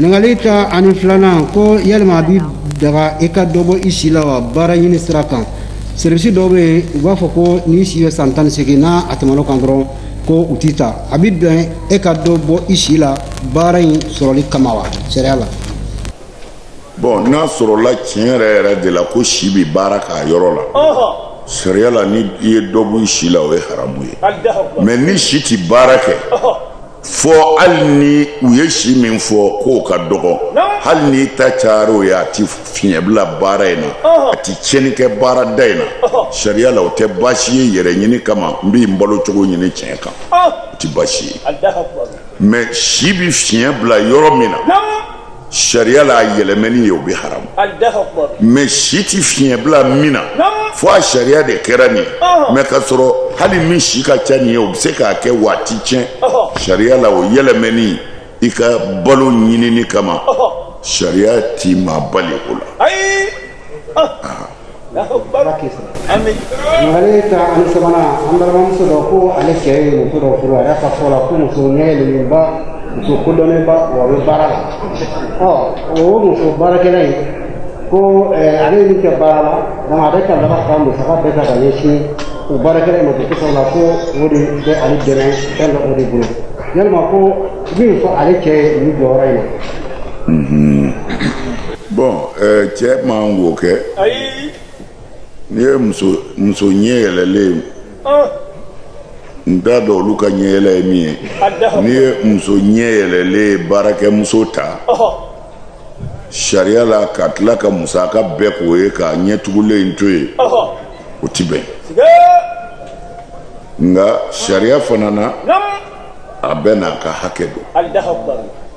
ɲininkali tan ani filanan ko yalima a bi daga i ka dɔ bɔ i si la wa baara ɲini sira kan serivisi dɔw bɛ yen u b'a fɔ ko n'i si ye san tan ni seegin n'a a tɛmɛn'o kan dɔrɔn ko u t'i ta a bi bɛn e ka dɔ bɔ i si la baara in sɔrɔli kama wa sariya la bɔn n'a sɔrɔla tiɲɛ yɛrɛ yɛrɛ de la ko si bɛ baara k'a yɔrɔ la sariya la ni i ye dɔ bɔ i si la o ye haramu ye mɛ ni si tɛ baara kɛ fo hali ni u ye si min fɔ k'o ka dɔgɔ hali n'i ta cayara o ye a ti fiɲɛ bila baara in na a ti tiɲɛni kɛ baarada in na sariya la o tɛ baasi ye yɛrɛ ɲini kama n bi n balo cogo ɲini tiɲɛ kan o ti baasi ye mɛ si bi fiɲɛ bila yɔrɔ min na sariya la a yɛlɛmɛni ye o bɛ haramu mɛ si tɛ fiɲɛ bila min na fo a sariya de kɛra nin mɛ ka sɔrɔ hali min si ka ca nin ye o bɛ se k'a kɛ wa a ti tiɲɛ sariya la o yɛlɛmɛni i ka balo ɲinini kama sariya ti maa bali o la ale tan ani sabanan an balimamuso dɔ ko ale cɛ ye muso dɔ furu a y'a ka fɔ la ko muso ɲɛ yɛlɛlenba muso kodɔnnenba wa a bɛ baara la ɔ o muso baarakɛla in ko ale ye min kɛ baara la donc a bɛ ka laban ka musaka bɛɛ ta ka ɲɛsin o baarakɛla in ma ko kosɛbɛ la ko o de bɛ ale dɛmɛ fɛn dɔ o de bolo yalima ko mun fɔ ale cɛ ye nin jɔyɔrɔ in na. bɔn eh, cɛ man wo kɛ n'i ye muso muso ɲɛ yɛlɛlen ah. n t'a dɔn olu ka ɲɛ yɛlɛ ye min ye n'i ye muso ɲɛ yɛlɛlen baarakɛmuso ta sariya la ka tila ka musaka bɛɛ k'o ye ka ɲɛtugulen in to yen o ti bɛn nka sariya fana na a bɛɛ n'a ka hakɛ don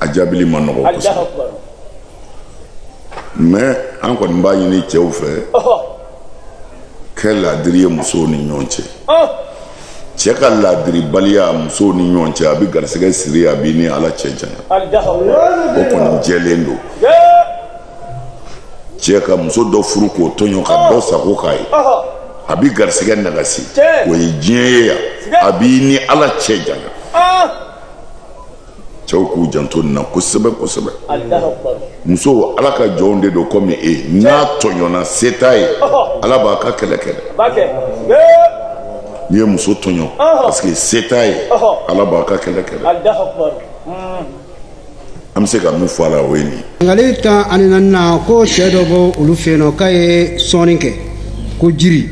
a jaabili ma nɔgɔ kosɛbɛ mɛ an kɔni b'a ɲini cɛw fɛ kɛ laadiri ye musow ni ɲɔgɔn cɛ cɛ ka laadiribaliya musow ni ɲɔgɔn cɛ a bɛ garisɛgɛ siri a b'i ni ala cɛ janya o kɔni jɛlen don cɛ ka muso dɔ furu k'o tɔɲɔ ka dɔ sago k'a ye a bɛ garisɛgɛ nagasi o ye diɲɛ ye yan a b'i ni ala cɛ janya cɛw k'u janto nin na kosɛbɛ kosɛbɛ musow ala ka jɔnw de don komi e n'a tɔɲɔna se t'a ye ala b'a ka kɛlɛ kɛ dɛ n'i ye muso tɔɲɔ parce que se t'a ye ala b'a ka kɛlɛ kɛ dɛ an bɛ se ka min fɔ a la o ye nin ye ɲininkali tan ani naaninan ko cɛ dɔ bɔ olu fɛ yen nɔ k'a ye sɔnni kɛ ko jiri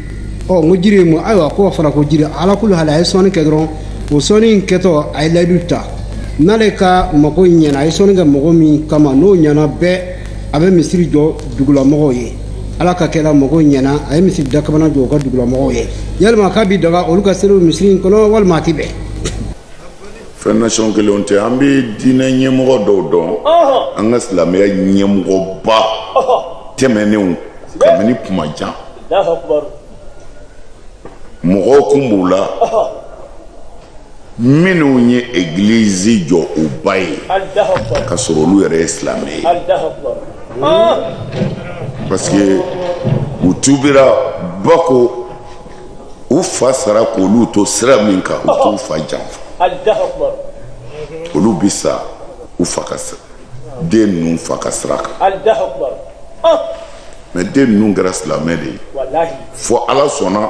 ɔ n ko jiri ye mun ayiwa k'o fɔra ko jiri ala kulu hali a ye sɔnni kɛ dɔrɔn o sɔnni in kɛtɔ a ye layidu ta n'ale ka mago ɲɛna a ye sɔnni kɛ mago min kama n'o ɲɛna bɛɛ a bɛ misiri jɔ dugulamɔgɔw ye ala ka kɛra mago ɲɛna a ye misiri dakabana jɔ u ka dugulamɔgɔw ye yalima k'a bi daga olu ka seli o misiri in kɔnɔ walima a ti bɛn fɛn nasɔn kelenw tɛ an bɛ diinɛ ɲɛmɔgɔ dɔw dɔn an ka silamɛya ɲɛmɔgɔba tɛmɛnenw kabini kuma jan mɔgɔw kun b'u la minnu ye egilizi jɔ u ba ye ka sɔrɔ olu yɛrɛ ye silamɛ ye parce que u tubira ba ko u fa sara k'olu to sira min kan u t'u fa janfa olu bɛ sa u fa ka sira den ninnu fa ka sira kan mɛ den ninnu kɛra silamɛ de ye fo ala sɔnna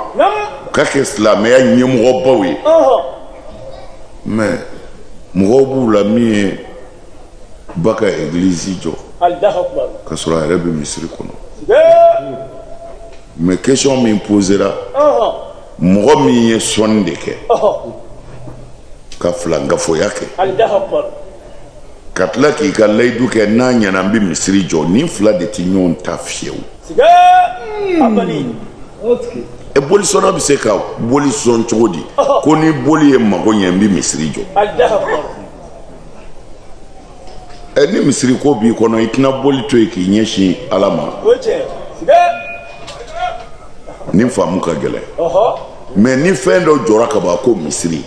u ka kɛ silamɛya ɲɛmɔgɔbaw ye mɛ mɔgɔw b'u la min ye ba ka église jɔ ka sɔrɔ a yɛrɛ bɛ misiri kɔnɔ mais question min posera mɔgɔ min ye sɔnni de kɛ ka filankafoya kɛ ka tila k'i ka layidu kɛ n'a ɲɛna n bɛ misiri jɔ nin fila de tɛ ɲɔgɔn ta fiyewu e bolisɔnna bɛ se ka boli sɔn cogo di ko ni boli ye mago ɲɛ n bɛ misiri jɔ ɛ ni misiri ko b'i kɔnɔ i tɛna boli to yen k'i ɲɛsin ala ma nin faamu ka gɛlɛn mɛ ni fɛn dɔ jɔra ka ban ko misiri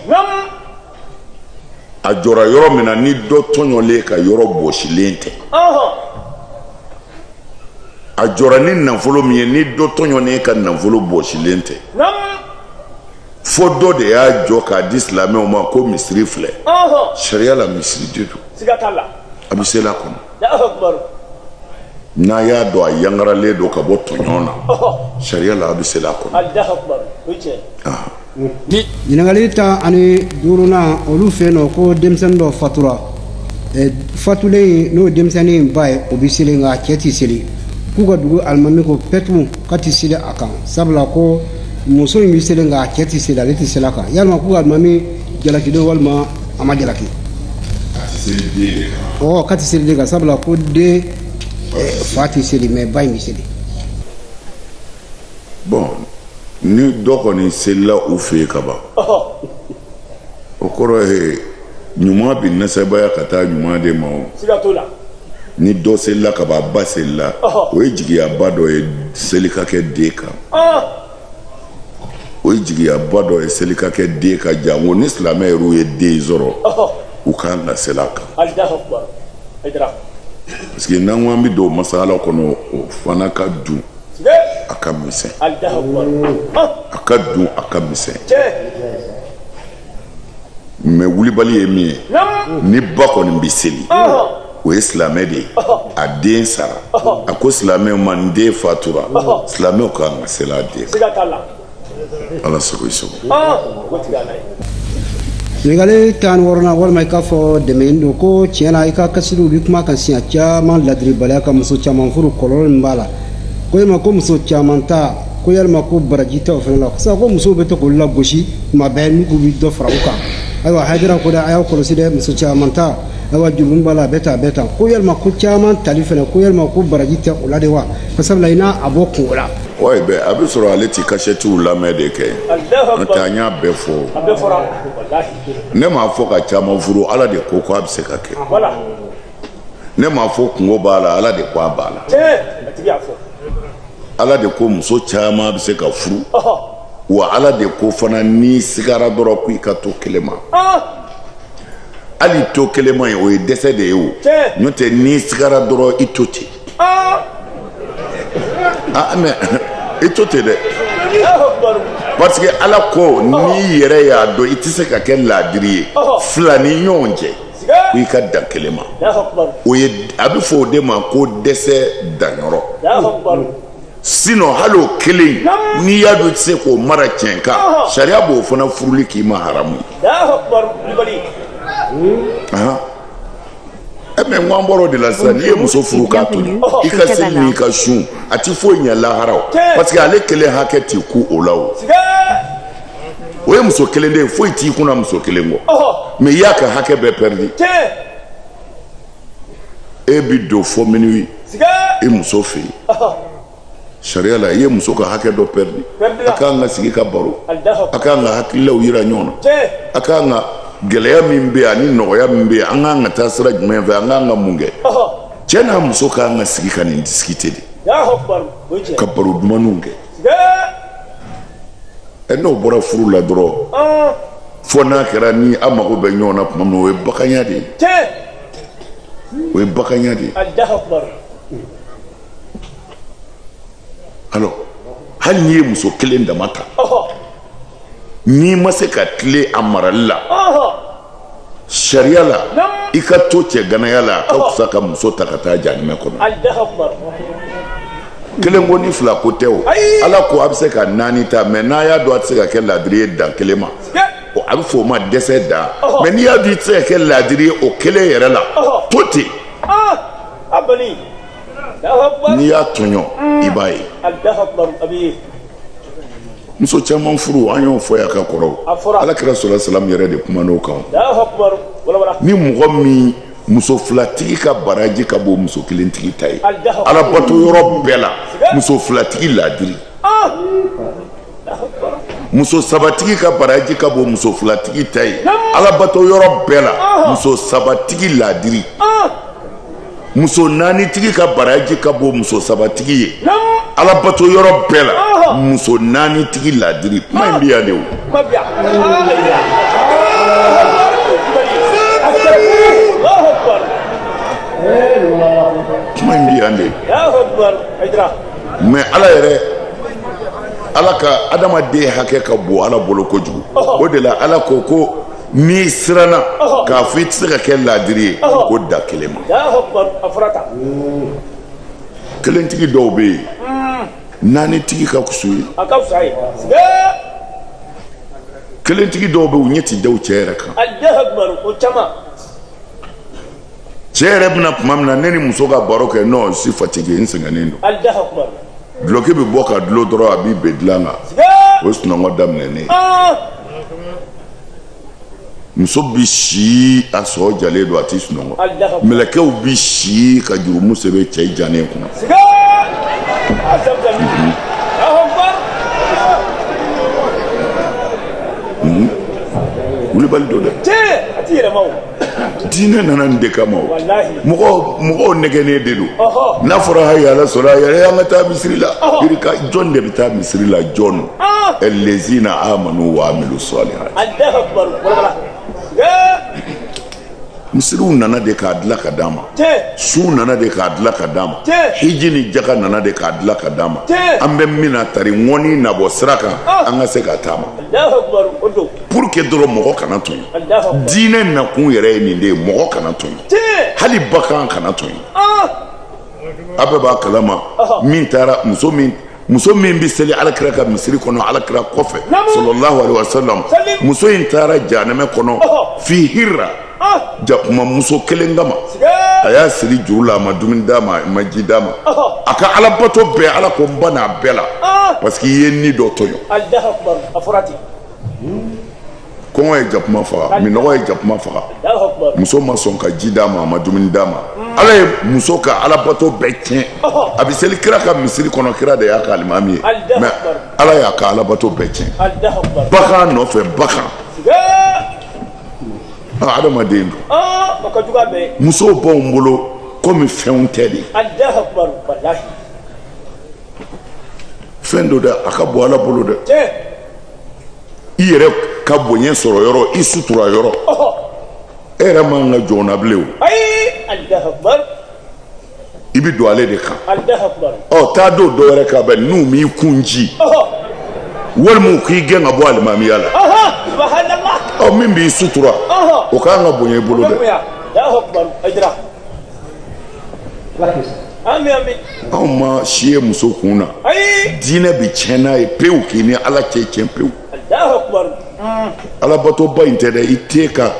a jɔra yɔrɔ min na ni dɔ tɔɲɔlen ka yɔrɔ bɔsilen tɛ a jɔra ni nafolo min ye ni dɔ tɔɲɔnen ka nafolo bɔsilen tɛ fo dɔ de y'a jɔ k'a di silamɛw ma ko misiri filɛ sariya la misiri de don a bɛ seli a kɔnɔ n'a y'a dɔn a yangaralen don ka bɔ tɔɲɔn na sariya la a bɛ seli a kɔnɔ ɲininkali tan ani duurunan olu fɛ yen nɔ ko denmisɛnnin dɔ fatura fatulen n'o ye denmisɛnnin ba ye o bɛ seli nka a cɛ tɛ seli k'u ka dugu alimami ko pɛtu K'a tɛ seli a kan sabula ko muso in bɛ seli nka a cɛ tɛ seli ale tɛ seli a kan yalima ko alimami jalaki don walima a ma jalaki ɔ k'a tɛ seli den kan sabula ko den fa tɛ seli mɛ ba in bɛ seli bon ni dɔ kɔni selila u fɛ yen kaban o kɔrɔ ye ɲuman bɛ nasabaya ka taa ɲuman de ma o ni dɔ selila ka ban ba selila o ye jigiyaba dɔ ye seli ka kɛ den kan o ye jigiyaba dɔ ye seli ka kɛ den kan janko ni silamɛ yɛrɛw ye den sɔrɔ u ka kan ka seli a kan parce que n'an ko an bɛ don masala kɔnɔ o fana ka dun a ka misɛn a ka dun a ka misɛn mɛ wulibali ye min ye ni ba kɔni bɛ seli o ye silamɛ de ye a den sara a ko silamɛw ma ni den fatura silamɛw ka kan ka seli a den kan ala sago i sago ɲininkali tan ni wɔɔrɔnan walima i k'a fɔ dɛmɛni don ko tiɲɛ na i ka kasɛtiw bɛ kuma kan siɲɛ caman ladiribaliya ka muso caman furu kɔlɔlɔ min b'a la ko yalima ko muso caman ta ko yalima ko baraji tɛ o fana la sisan ko musow bɛ to k'olu lagosi tuma bɛɛ n'u k'u bɛ dɔ fara u kan ayiwa hayidara ko dɛ a y'aw kɔlɔsi dɛ muso caman ta ayiwa jurumu b'a la a bɛ tan a bɛ tan ko yalima ko caman tali fana ko yalima ko baraji tɛ o la de wa ko sabula i n'a a bɔ kunko la oui bɛ a bɛ sɔrɔ ale ti kasɛtiw lamɛn de kɛ n'o tɛ an y'a bɛɛ fɔ ne m'a fɔ ka caman furu ala de ko ko a bɛ se ka kɛ ne m'a fɔ kunko b'a la ala de ko a b'a la ala de ko muso caman bɛ se ka furu wa ala de ko fana n'i sigara dɔrɔn ko i ka to kelen ma hali to kelen ma ye o ye dɛsɛ de ye o n'o tɛ n'i sigara dɔrɔn i to ten ah mɛ i to ten dɛ parce que ala ko n'i yɛrɛ y'a dɔn i tɛ se ka kɛ laadiri ye fila ni ɲɔgɔn cɛ ko i ka dan kelen ma o ye a bɛ fɔ o de ma ko dɛsɛ danyɔrɔ sinon hali o kelen n'i y'a dɔn i tɛ se k'o mara tiɲɛ kan sariya b'o fana furuli k'i ma haramu ye mɛ n ko an bɔra o de la sisan n'i ye muso furu k'a to i ka seli n'i ka sun a tɛ foyi ɲɛ lahara o parce que ale kelen hakɛ t'i kun o la o. o ye muso kelen de ye foyi t'i kunna muso kelen kɔ mɛ i y'a ka hakɛ bɛɛ pɛridi e bi don fo minuit i muso fɛ yen sariya la i ye muso ka hakɛ dɔ pɛridi a kan ka sigi ka baro a kan ka hakililaw yira ɲɔgɔn na a kan ka gɛlɛya min bɛ yen ani nɔgɔya min bɛ yen an kan ka taa sira jumɛn fɛ an kan ka mun kɛ cɛ n'a muso kan ka sigi ka nin discuter de ka baro dumanw kɛ ɛ n'o bɔra furu la dɔrɔn fo n'a kɛra ni a mago bɛ ɲɔgɔn na tuma min o ye baganya de ye o ye baganya de ye alors hali n'i ye muso kelen dama ta n'i ma se ka tilen a marali la sariya la i ka to cɛ ganaya la a ka fisa ka muso ta ka taa janimɛ kɔnɔ kelen ko ni fila ko tɛ o ala ko a bɛ se ka naani ta mais n'a y'a dɔn a tɛ se ka kɛ laadiri ye dan kelen ma a bɛ fɔ o ma dɛsɛ dan mais n'i y'a dɔn i tɛ se ka kɛ laadiri ye o kelen yɛrɛ la to ten n'i y'a tɔɲɔ i b'a ye muso caman furu an y'o fɔ yan ka kɔrɔ ala kira sallallahu alaihi wasallam yɛrɛ de kuman'o kan ni mɔgɔ min muso filatigi ka baraji ka bon muso kelentigi ta ye ala bato yɔrɔ bɛɛ la muso filatigi laadiri ah! muso sabatigi ka baraji ka bon muso filatigi ta ye ala bato yɔrɔ bɛɛ la ah! muso sabatigi laadiri ah! muso naanitigi ka baraji ka bon muso sabatigi ye alabato yɔrɔ bɛɛ la muso naanitigi ladiri kuma in bɛ yan de o kuma in bɛ yan de mais ala yɛrɛ ala ka adamaden hakɛ ka bon ala bolo kojugu o de la ala ko ko n'i siranna k'a fɔ i tɛ se ka kɛ laadiri ye ko dan kelen ma kelentigi dɔw bɛ yen hmm. naanitigi ka fis'u ye kelentigi dɔw bɛ yen u ɲɛ tɛ da u cɛ yɛrɛ kan cɛ yɛrɛ bɛ na tuma min na ne ni muso ka baro kɛ non suis fatigué n sɛgɛnnen don duloki bɛ bɔ ka dulon dɔrɔn a b'i bin dilan kan o ye sunɔgɔ daminɛnen ah! muso bɛ si a sɔɔ jalen don a tɛ sunɔgɔ mɛlɛkɛw bɛ si ka jurumu sɛbɛn cɛ jannen kunna kulubali don dɛ diinɛ nana nin de kama o mɔgɔw mɔgɔw nɛgɛnnen de don n'a fɔra hayya ala salat a yɛrɛ an ka taa misiri la yirika jɔn de bɛ taa misiri la jɔn lezina amanu wa amilu salihat misiriw nana de k'a dila ka d'a ma sun nana de k'a dila ka d'a ma hiji ni jaka nana de k'a dila ka d'a ma an bɛ min na tari ŋɔni nabɔ sira kan an ka se ka taama pour que dɔrɔn mɔgɔ kana tɔɲɔ diinɛ nakun yɛrɛ ye nin de ye mɔgɔ kana tɔɲɔ hali bagan kana tɔɲɔ a bɛɛ b'a kalama min taara muso min muso min bɛ seli alakira ka misiri kɔnɔ alakira kɔfɛ sallallahu alaihi wasallam muso in taara jahanɛmɛ kɔnɔ fi hirra jakuma muso kelen kama a y'a siri juru la a ma dumuni d'a ma a ma ji d'a ma a ka alabato bɛɛ ala ko n bann'a bɛɛ la parce que i ye ni dɔ tɔɲɔ kɔngɔ ye jakuma faga minnɔgɔ ye jakuma faga muso ma sɔn ka ji d'a ma a ma dumuni d'a ma ala ye muso ka alabato bɛɛ tiɲɛ a bɛ seli kira ka misiri kɔnɔ kira de y'a ka alimami ye mais ala y'a ka alabato bɛɛ tiɲɛ bagan nɔfɛ bagan adamaden dun musow b'anw bolo komi fɛnw tɛ de fɛn don dɛ a ka bon ala bolo dɛ i yɛrɛ ka bonya sɔrɔ yɔrɔ i sutura yɔrɔ e yɛrɛ man ka jɔn na bilen o i bɛ don ale de kan ɔ taa don dɔ wɛrɛ kan bɛ n'u m'i kun ci walima u k'i gɛn ka bɔ alimamiya la ɔ min b'i sutura o ka kan ka bonya i bolo dɛ. anw ma si ye muso kun na diinɛ bɛ tiɲɛ n'a ye pewu k'i ni ala cɛ tiɲɛ pewu alabatoba in tɛ dɛ i ten ka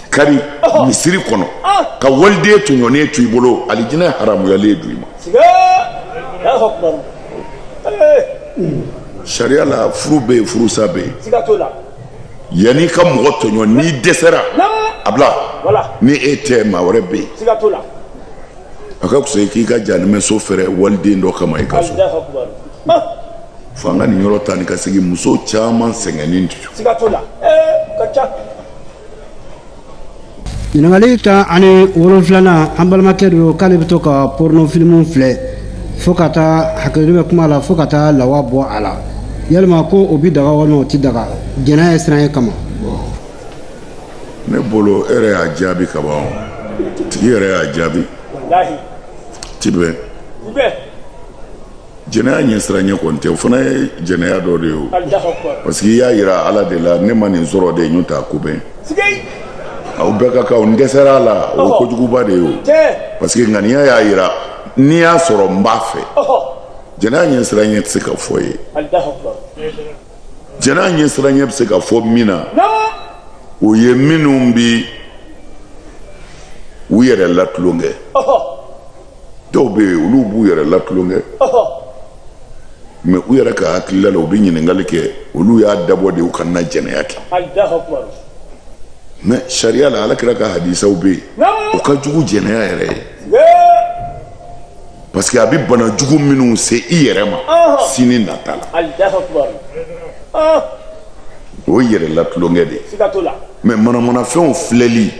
kari misiri kɔnɔ ka waliden tɔɲɔnen to i bolo alijinɛ haramuyalen don i ma sariya la furu bɛ yen furusa bɛ yen yanni i ka mɔgɔ tɔɲɔ n'i dɛsɛra a bila ni e tɛ maa wɛrɛ bɛ yen a ka fisa i k'i ka jahanamaso fɛrɛ waliden dɔ kama i ka so fo an ka nin yɔrɔ ta ni ka segin muso caman sɛgɛnnen don ɲininkali tan ani wolonfilanan an balimakɛ don k'ale bɛ to ka porno filimu filɛ fo ka taa hakɛto bɛ kuma la fo ka taa lawa bɔ a la yalima ko o bi daga walima o ti daga jɛnɛya ɲɛsiranya kama ne bolo e yɛrɛ y'a jaabi ka ban o tigi yɛrɛ y'a jaabi ti bɛn jɛnɛya ɲɛsiranya kɔni tɛ o fana ye jɛnɛya dɔ de ye o parce que i y'a yira ala de la ne ma nin sɔrɔ de n'o t'a ko bɛ n na o bɛɛ ka kan n dɛsɛra a la o ye kojuguba de ye o parce que ŋaniya y'a yira n'i y'a sɔrɔ n b'a fɛ jɛnɛya ɲɛsiranya tɛ se ka fɔ ye jɛnɛya ɲɛsiranya bɛ se ka fɔ min na o ye minnu bɛ u yɛrɛ latulonkɛ dɔw bɛ yen olu b'u yɛrɛ latulonkɛ mais u yɛrɛ ka hakilila la u bɛ ɲininkali kɛ olu y'a dabɔ de u kana jɛnɛya kɛ mais sariya la ala kira ka hadisaw bɛ yen o ka jugu jɛnɛya yɛrɛ ye parce que a bɛ bana jugu minnu se i yɛrɛ ma sini nata la o ye yɛrɛ la tulonkɛ de ye mais manamanafɛnw filɛli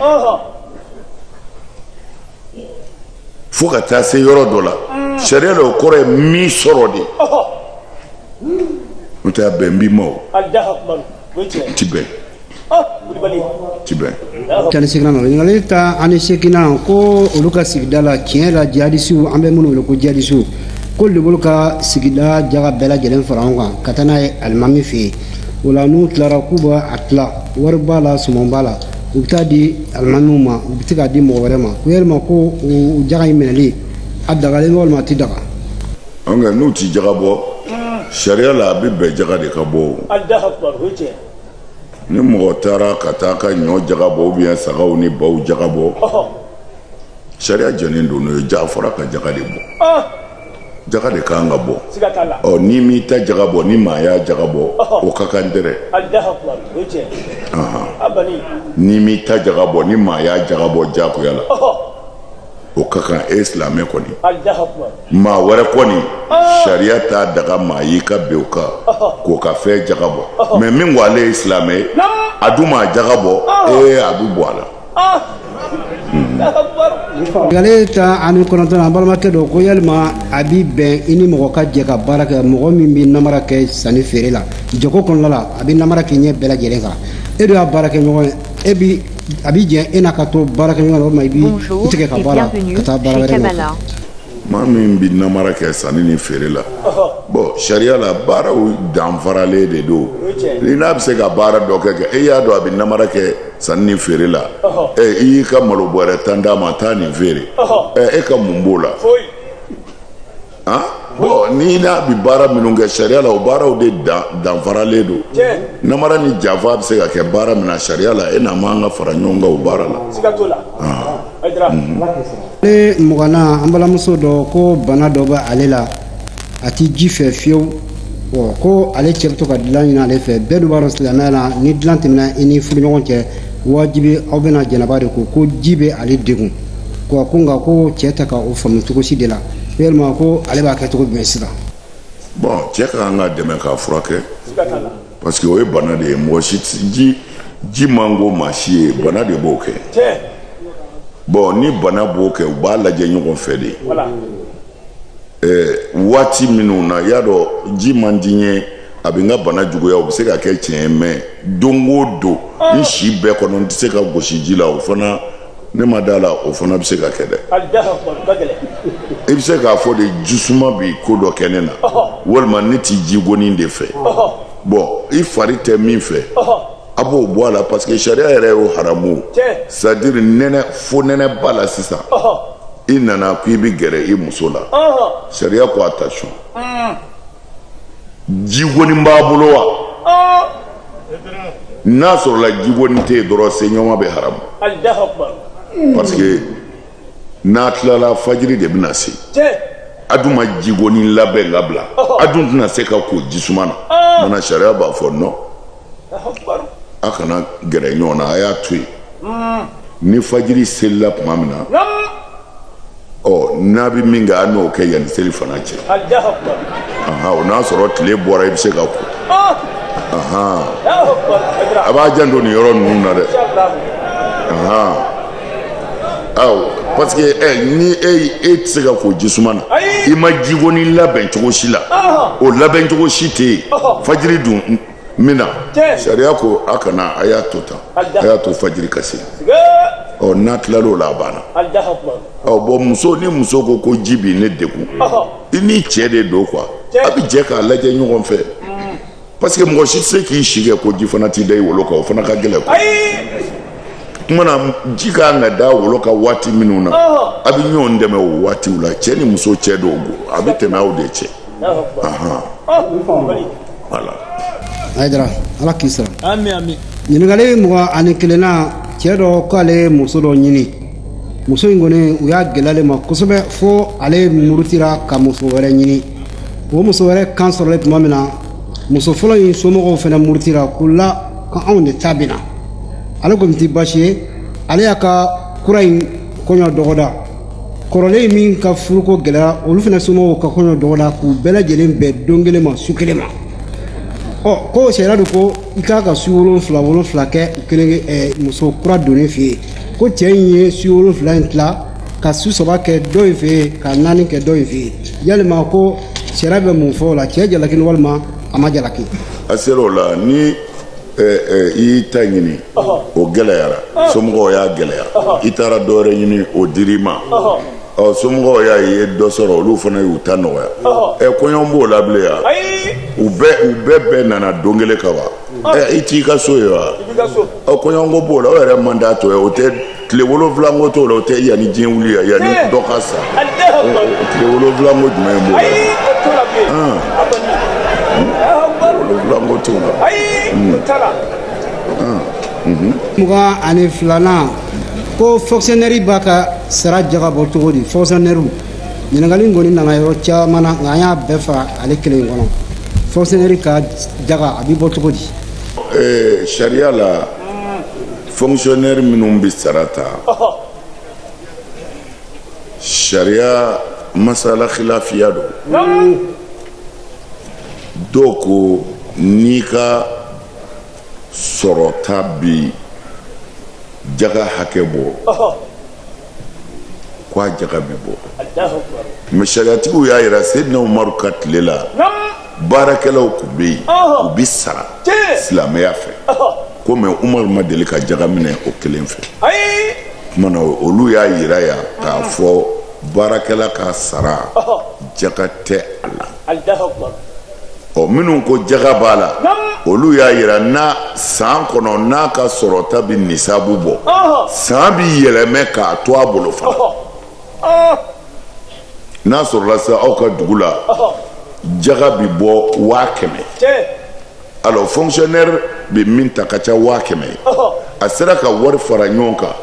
fo ka taa se yɔrɔ dɔ la mm. sariya la o kɔrɔ ye min sɔrɔ de n'o tɛ a bɛn b'i ma o ti bɛn Tan ni seginnan nɔ ɲininkali tan ani seginnan ko olu ka sigida la tiɲɛ la jihadisiw an bɛ minnu wele ko jihadisiw ko olu ka sigida jaga bɛɛ lajɛlen fara ɲɔgɔn kan ka taa n'a ye alimami fɛ yen o la n'u tilara k'u bɛ a tila wari b'a la suman b'a la u bɛ taa di alimamiw ma u bɛ se k'a di mɔgɔ wɛrɛ ma ko yalima ko o jaga in minɛli a dagalen don walima a tɛ daga. n'u tɛ jaga bɔ sariya la a bɛ bɛn jaga de ka bɔ o. ni mɔgɔ taara ka taa ka ɲɔ jaga bɔ ou bien sagaw ni baw jaga bɔ sariya jɛlen don n'o ye ja fɔra ka jaga de bɔ jaga de ka kan ka bɔ n'i m'i ta jaga bɔ ni maa y'a jaga bɔ o ka kan dɛrɛ n'i m'i ta jaga bɔ ni maa y'a jaga bɔ jagoya la o ka kan e silamɛ kɔni maa wɛrɛ kɔni ah. sariya t'a daga maa y'i ka bin o kan k'o ka fɛn jaga bɔ mais min ko ale ye silamɛ ye a dun ma jaga bɔ ah. ee a bɛ bɔ a la ah. hmm. ɲininkali tan ani kɔnɔntɔnnan an balimakɛ dɔ ko yalima a bi bɛn i ni mɔgɔ ka jɛ ka baara kɛ mɔgɔ min bɛ namara kɛ sanni feere la jago kɔnɔna la a bɛ namara kɛ ɲɛ bɛɛ lajɛlen kan e dun y'a baarakɛɲɔgɔn ye e bi A bɛ jɛ e n'a ka to baara kɛ ɲɔgɔn na walima i b'i tigɛ ka bɔ a la ka taa baara wɛrɛ la maa min bɛ namara kɛ sanni ni feere la bon sariya la baaraw danfaralen de don i n'a bɛ se ka baara dɔ kɛ kɛ e y'a dɔn a bɛ namara kɛ sanni ni feere la ɛ i y'i ka malo bɔrɛ tan d'a ma taa nin feere e ka mun b'o la bon n'i n'a bi baara minnu kɛ sariya la o baaraw de danfaralen don namara ni janfa bɛ se ka kɛ baara min na sariya la e n'a man ka fara ɲɔgɔn kan o baara la ɲininkali mugannan an balimamuso dɔ ko bana dɔ bɛ ale la a tɛ ji fɛ fiyewu ko ale cɛ bɛ to ka dilan ɲini ale fɛ bɛɛ dun b'a dɔn silamɛya la ni dilan tɛmɛna i ni furuɲɔgɔn cɛ wajibi aw bɛna janaba de ko ko ji bɛ ale degun ko ko nka ko cɛ tɛ ka o faamu cogo si de la yalima ko ale b'a kɛ cogo jumɛn sisan bon cɛ ka kan ka dɛmɛ k'a furakɛ parce que o ye bana de ye mɔgɔ si ji man go maa si ye bana de b'o kɛ bon ni bana b'o kɛ u b'a lajɛ ɲɔgɔn fɛ de eh, waati minnu na y'a dɔn ji man di n ye a bɛ n ka bana juguya o bɛ se ka kɛ tiɲɛ ye mais don o don n si bɛɛ kɔnɔ n tɛ se ka gosi ji la o fana ne ma d'a la o fana bɛ se ka kɛ dɛ i bɛ se k'a fɔ de jisuma bɛ ko dɔ kɛ ne na walima ne tɛ jigoni de fɛ bon i fari tɛ min fɛ a b'o bɔ a la parce que sariya yɛrɛ y'o haramu c'est à dire nɛnɛ fo nɛnɛ b'a la sisan i nana ko i bɛ gɛrɛ i muso la sariya ko attention jigoni b'a bolo wa n'a sɔrɔla jigoni tɛ yen dɔrɔn seɲɔgɔn bɛ haramu parce que n'a tilala fajiri de bɛna se a dun ma jigoni labɛn ka bila a dun tɛna se ka ko jisuma na mana sariya b'a fɔ non a kana gɛrɛ ɲɔgɔn na a y'a to yen ni fajiri selila tuma min na ɔ n'a bɛ min kɛ a n'o kɛ yanni seli fana cɛ o n'a sɔrɔ tile bɔra i bɛ se ka ko a b'a janto nin yɔrɔ ninnu na dɛ aw parce que ɛ ni e e tɛ se ka ko jisuma na i ma jigoni labɛn cogo si la o labɛn cogo si tɛ yen fajiri dun min na sariya ko a kana a y'a to tan a y'a to fajiri ka se ɔ n'a tilal'o la a banna ɔ bon muso ni muso ko ko ji bi ne degun i ni cɛ de don quoi a bɛ jɛ k'a lajɛ ɲɔgɔn fɛ mm. parce que mɔgɔ si tɛ se k'i si kɛ ko ji fana t'i da i wolo kan o fana ka gɛlɛn quoi kumana ji ka kan ka da wolo kan waati minnu na a bɛ ɲɔgɔn dɛmɛ o waatiw la cɛ ni muso cɛ dɔw a bɛ tɛmɛ aw de cɛ Voilà Ayidara ala k'i sara ɲininkali mugan ni kelennan cɛ dɔ ko ale ye muso dɔ ɲini muso in kɔni u y'a gɛlɛya ale ma kosɛbɛ fo ale murutira ka muso wɛrɛ ɲini o muso wɛrɛ kan sɔrɔlen tuma min na muso fɔlɔ in somɔgɔw fana murutira k'u la ko anw de ta bɛna ale ko nin tɛ baasi ye ale y'a ka kura in kɔɲɔ dɔgɔda kɔrɔlen min ka furuko gɛlɛyara olu fana somɔgɔw ka kɔɲɔ dɔgɔda k'u bɛɛ lajɛlen bɛn don kelen ma su kelen ma ɔ ko sariya dun ko i ka kan ka su wolonfila wolonfila kɛ u kelen eh, muso kura donnen fɛ yen ko cɛ in ye su wolonfila in tila ka su saba kɛ dɔ in fɛ yen ka naani kɛ dɔ in fɛ yen yalima ko sariya bɛ mun fɔ o la cɛ jalakilen walima a ma jalaki a sera o la ni i y'i ta ɲini o gɛlɛyara somɔgɔw y'a gɛlɛya i taara dɔwɛrɛ ɲini o dir'i ma ɔ somɔgɔw y'a ye dɔ sɔrɔ olu fana y'u ta nɔgɔya ɛ kɔɲɔ b'o la bilen ya u bɛɛ u bɛɛ bɛɛ nana don kelen ka wa ɛ i t'i ka so ye wa ɔ kɔɲɔko b'o la o yɛrɛ man d'a to ye o tɛ tile wolonwula ko t'o la o tɛ yanni diɲɛ wuli ya yanni eh. dɔ ka sa eh, eh, tile wolonwula ko jumɛn b'o la ah. wolonwula ko t'o la hmm. ah. mhm. mugan ani filanan ko fonctionnaire b'a ka sara jaga bɔ cogo di fonctionnaire ɲininkali in kɔni nana yɔrɔ caman na nka an y'a bɛɛ fara ale kelen kɔnɔ fonctionnaire ka jaga a bɛ bɔ cogo di sariya la fonctionnaire minnu bɛ sara ta sariya masala khilafiya don dɔw ko n'i ka sɔrɔta bɛ jaga hakɛ bɔ ko a jaga bɛ bɔ mais sariyatigiw y'a yira Seyidina Umaru ka tile la baarakɛlaw kun bɛ yen u bɛ sara silamɛya fɛ ko mais Umaru ma deli ka jaga minɛ o kelen fɛ kuma na olu y'a yira yan k'a fɔ baarakɛla ka sara jaga tɛ a la ɔ minnu ko jaga b'a la olu y'a yira n'a san kɔnɔ n'a ka sɔrɔta bɛ nisabu bɔ san bɛ yɛlɛmɛ k'a to a bolo fana n'a sɔrɔla sa aw ka dugu la jaga bɛ bɔ waa kɛmɛ alors fonctionnaire bɛ min ta ka ca waa kɛmɛ ye a sera ka wari fara ɲɔgɔn kan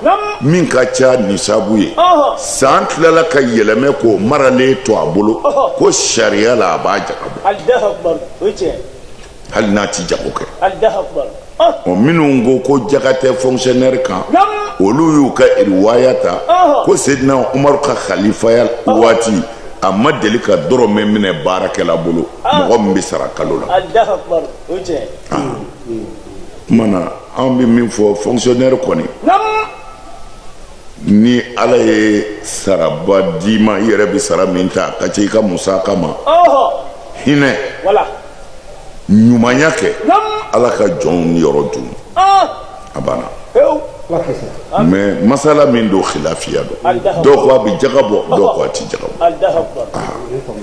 min ka ca nisabu ye san tilala ka yɛlɛmɛ k'o maralen to a bolo ko sariya la a b'a jaga bɔ hali n'a ti jago kɛ ɔ minnu ko ko jaga tɛ fonctionnaire kan olu y'u ka riwaya ta ko Seyidina Umaru ka khalifaya waati a ma deli ka dɔrɔmɛ minɛ baarakɛla bolo mɔgɔ min bɛ sara kalo la kuma na an bɛ min fɔ fonctionnaire kɔni ni ala ye saraba d'i ma i yɛrɛ bɛ sara min ta ka ca i ka musaka ma hinɛ ɲumanya kɛ ala ka jɔnw yɔrɔ dun a banna mais masala min don khilafiya don dɔw ko a bɛ jaga bɔ dɔw ko a tɛ jaga bɔ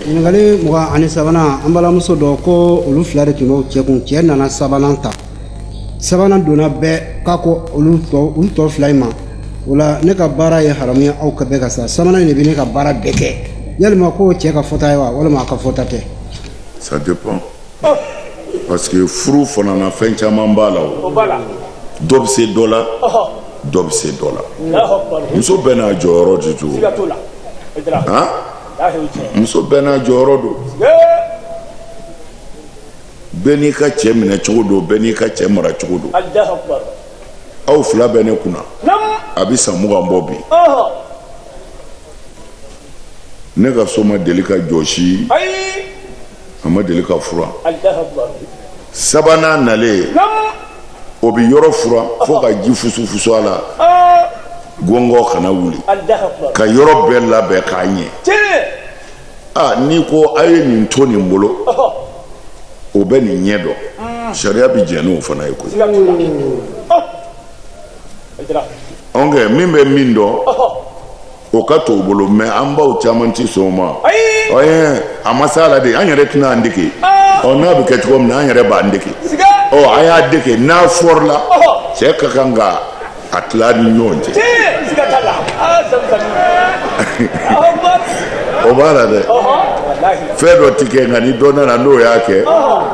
ɲininkali mugan ani sabanan an balimamuso dɔ ko olu fila de tun b'o cɛ kun cɛ nana sabanan ta sabanan donna bɛɛ k'a ko olu tɔ u tɔ fila in ma o la ne ka baara ye haramu ye aw kan bɛɛ ka sa sabanan in de bɛ ne ka baara bɛɛ kɛ yalima ko cɛ ka fɔta ye wa walima a ka fɔta tɛ ça dépend parce que furu fana na fɛn caman b'a la o dɔ bɛ se dɔ la dɔ bɛ se dɔ la muso bɛɛ n'a jɔyɔrɔ de don han muso bɛɛ n'a jɔyɔrɔ don bɛɛ n'i ka cɛ minɛ cogo don bɛɛ n'i ka cɛ mara cogo don aw fila bɛ ne kunna a bɛ san mugan bɔ bi ne ka so ma deli ka jɔsi a ma deli ka furan sabanan nalen o bɛ yɔrɔ furan fo ka ji fusufusu a la gɔngɔ kana wuli ka yɔrɔ bɛɛ labɛn k'a ɲɛ aa n'i ko a ye nin to nin bolo o bɛ nin ɲɛ dɔn mm. sariya bɛ jɛn n'o fana ye koyi oke min bɛ min dɔn o ka t'o bolo mais an baw caman tɛ sɔn o ma ɔyɛ a ma s'a la de an yɛrɛ tɛna an dege ah. ɔ n'a bɛ kɛ cogo min na an yɛrɛ b'an dege ɔ a y'a dege n'a fɔrila cɛ ka kan ka a tila ni ɲɔgɔn cɛ o b'a la dɛ fɛn dɔ ti kɛ nka ni dɔ nana n'o y'a kɛ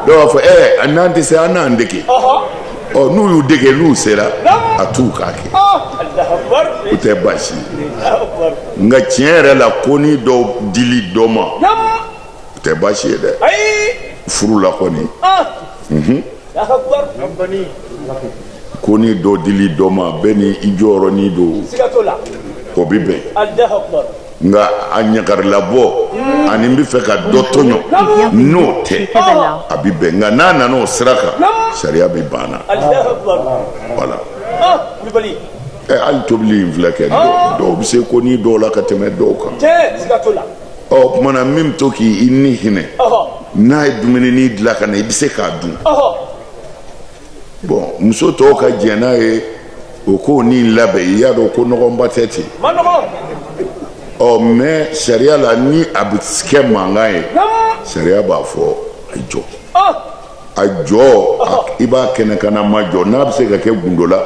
dɔw b'a fɔ ɛ n'an tɛ se an n'an dege ɔ n'u y'u dege n'u sera a t'u k'a kɛ o tɛ baasi ye nka tiɲɛ yɛrɛ la ko ni dɔw dili dɔ ma o tɛ baasi ye dɛ furu la kɔni ko ni dɔ dili dɔ ma bɛɛ ni i jɔyɔrɔnin don o bɛ bɛn nka a ɲagarilabɔ hmm. ani n b'a fɛ ka dɔ tɔɲɔ n'o tɛ a bɛ bɛn nka n'a nana o sira kan sariya bɛ ban a la voilà ah, ɛ hali tobili in filɛ kɛ ah. dɔw bɛ se ko ni dɔw la ka tɛmɛ dɔw kan ɔ o tuma na min bɛ to k'i ni hinɛ n'a ye dumuni nin dilan ka na i bɛ se k'a dun bon muso tɔw ka jɛn n'a ye o k'o nin labɛn i y'a dɔn ko nɔgɔnba tɛ ten ɔ mais sariya la ni a bɛ kɛ mankan ye sariya b'a fɔ a jɔ. a jɔ i b'a kɛnɛkannama jɔ n'a bɛ se ka kɛ gundo la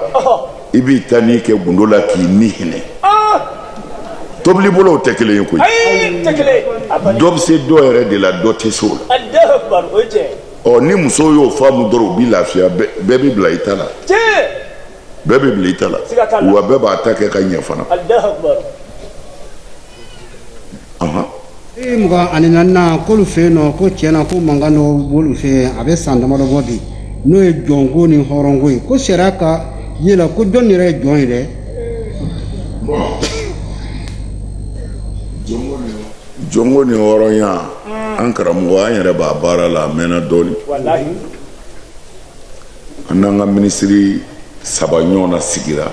i b'i ta nin kɛ gundo la k'i ni hinɛ tobili bolow tɛ kelen ye koyi dɔ bɛ se dɔ yɛrɛ de la dɔ tɛ se o la ɔ ni musow y'o faamu dɔrɔn u bɛ lafiya bɛɛ bɛ bila i ta la bɛɛ bɛ bila i ta la wa bɛɛ b'a ta kɛ ka ɲɛ fana ee mugan ani naaninan k'olu fɛ yen nɔ ko tiɲɛ na ko mankan dɔ b'olu fɛ yen a bɛ san damadɔ bɔ bi n'o ye jɔnko ni hɔrɔnko ye ko sariya ka ye la ko jɔn yɛrɛ ye jɔn ye dɛ jɔnko ni hɔrɔnya an karamɔgɔ an yɛrɛ b'a baara la a mɛnna dɔɔnin an n'an ka minisiri saba ɲɔgɔnna sigira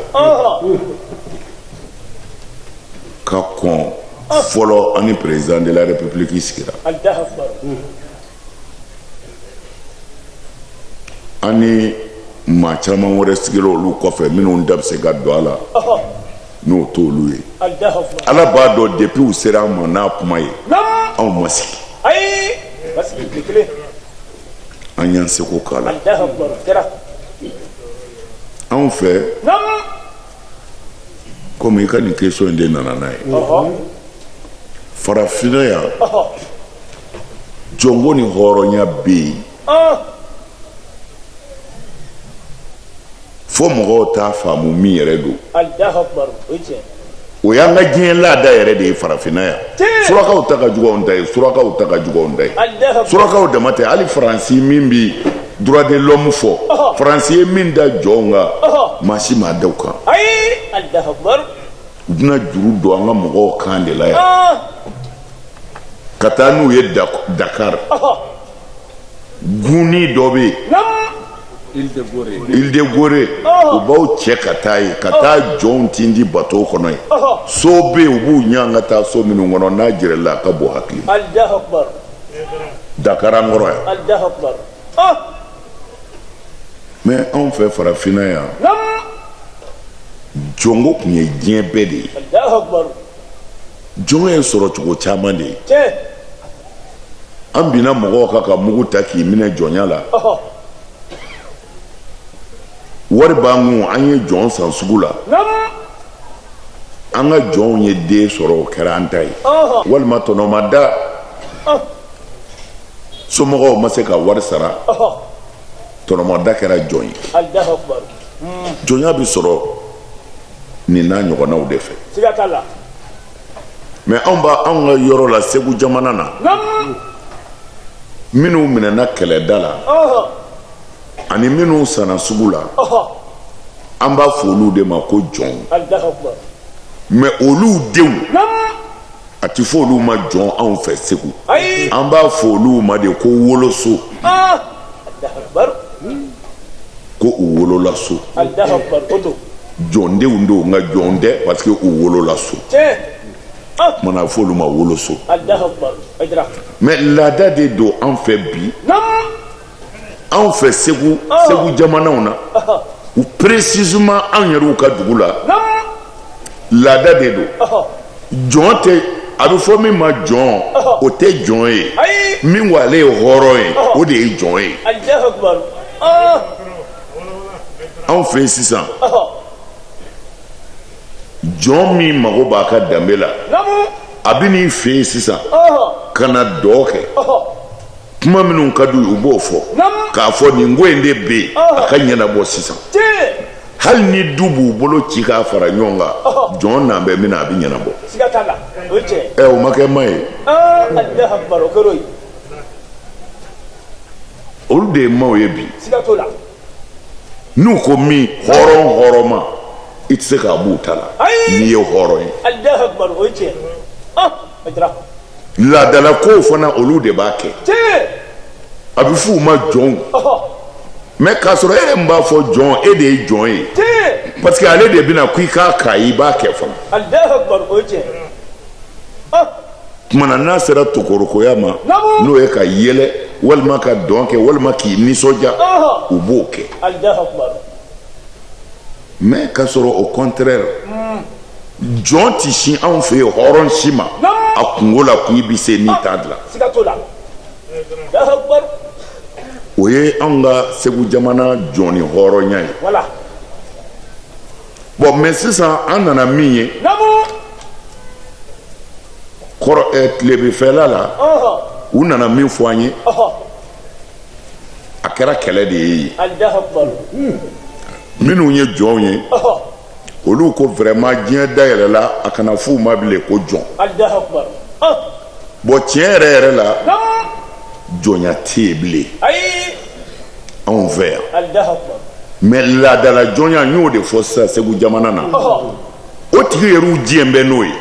ka kɔn fɔlɔ ani président de la république sigira ani maa caman wɛrɛ sigira olu kɔfɛ minnu da bɛ se ka don a la n'o t'olu ye ala b'a dɔn depuis u sera an ma n'a kuma ye anw ma sigi an y'an seko k'a la anw fɛ komi i ka nin question in de nana n'a ye farafinna yan jɔnko ni hɔrɔnya bɛ yen fo mɔgɔw t'a faamu min yɛrɛ don o y'an ka diɲɛ laada yɛrɛ de ye farafinna yan surakaw ta ka jugu anw ta ye surakaw ta ka jugu anw ta ye surakaw dama tɛ hali faransi min bɛ droit de l'homme fɔ faransi ye min da jɔnw kan maa si m'a da u kan u bɛna juru don an ka mɔgɔw kan de la yan ka taa n'u ye Dakar gunni dɔ bɛ yen Île de Gorée u b'aw cɛ ka taa yen ka taa jɔnw tindi bato kɔnɔ yen so bɛ yen u b'u ɲɛ ka taa so minnu kɔnɔ n'a jirala a ka bon hakili Dakar an kɔrɔ yan mɛ anw fɛ farafinna yan jɔnko tun ye diɲɛ bɛɛ de ye jɔn ye sɔrɔ cogo caman de ye an binna mɔgɔw kan ka mugu ta k'i minɛ jɔnya la wari b'an kun an ye jɔn san sugu la an ka jɔnw ye den sɔrɔ o kɛra an ta ye walima tɔnɔmada somɔgɔw ma se ka wari sara tɔnɔmada kɛra jɔn ye jɔnya bɛ sɔrɔ nin n'a ɲɔgɔnnaw de fɛ mɛ anw bara anw ka yɔrɔ la segu jamana na minnu minɛna kɛlɛda la ani minnu sanna sugu la an b'a fɔ olu de ma ko jɔn mɛ olu denw a tɛ fɔ olu ma jɔn anw fɛ segu an b'a fɔ olu ma de ko woloso ko u wolola so jɔndenw don nka jɔn tɛ parce que u wolola so mana fɔ olu ma woloso mais laada de don an fɛ bi anw fɛ segu segu jamanaw na ou précisément anw yɛrɛw ka dugu la laada de don jɔn tɛ a bɛ fɔ min ma jɔn o tɛ jɔn ye min ko ale ye hɔrɔn ye o de ye jɔn ye anw fɛ yen sisan jɔn min mago b'a ka danbe la a bɛ n'i fɛ yen sisan ka na dɔ kɛ kuma minnu ka d'u ye u b'o fɔ k'a fɔ nin ko in de bɛ yen a ka ɲɛnabɔ sisan. hali ni du b'u bolo ci k'a fara ɲɔgɔn kan jɔn n'an bɛ min na a bɛ ɲɛnabɔ ɛ o ma kɛ ma ye olu de ye maaw ye bi n'u ko min hɔrɔn hɔrɔn ma i tɛ se k'a b'u ta la n'i ye hɔrɔn ye laadala kow fana olu de b'a kɛ a bɛ f'u ma jɔnw mais k'a sɔrɔ e yɛrɛ min b'a fɔ jɔn e de ye jɔn ye parce que ale de bɛna ko i k'a k'a ye i b'a kɛ fana tumana n'a sera tokorokoya ma n'o ye ka yɛlɛ walima ka dɔn kɛ walima k'i nisɔndiya u b'o kɛ mais k'a sɔrɔ au contraire jɔn tɛ sin anw fɛ yen hɔrɔn si ma a kunko la k'i bɛ se n'i t'a dilan o ye anw ka segu jamana jɔn ni hɔrɔnya ye bon mais sisan an nana min ye kɔrɔ tilebinfɛla la u nana min fɔ an ye a kɛra kɛlɛ de ye yen minnu ye jɔnw ye olu ko vraiment diɲɛ dayɛlɛla a kana f'u ma bilen ko jɔn bon tiɲɛ yɛrɛ yɛrɛ la jɔnya tɛ yen bilen anw fɛ yan mais laadala jɔnya n y'o de fɔ sisan segu jamana na o tigi yɛrɛw diɲɛ bɛ n'o ye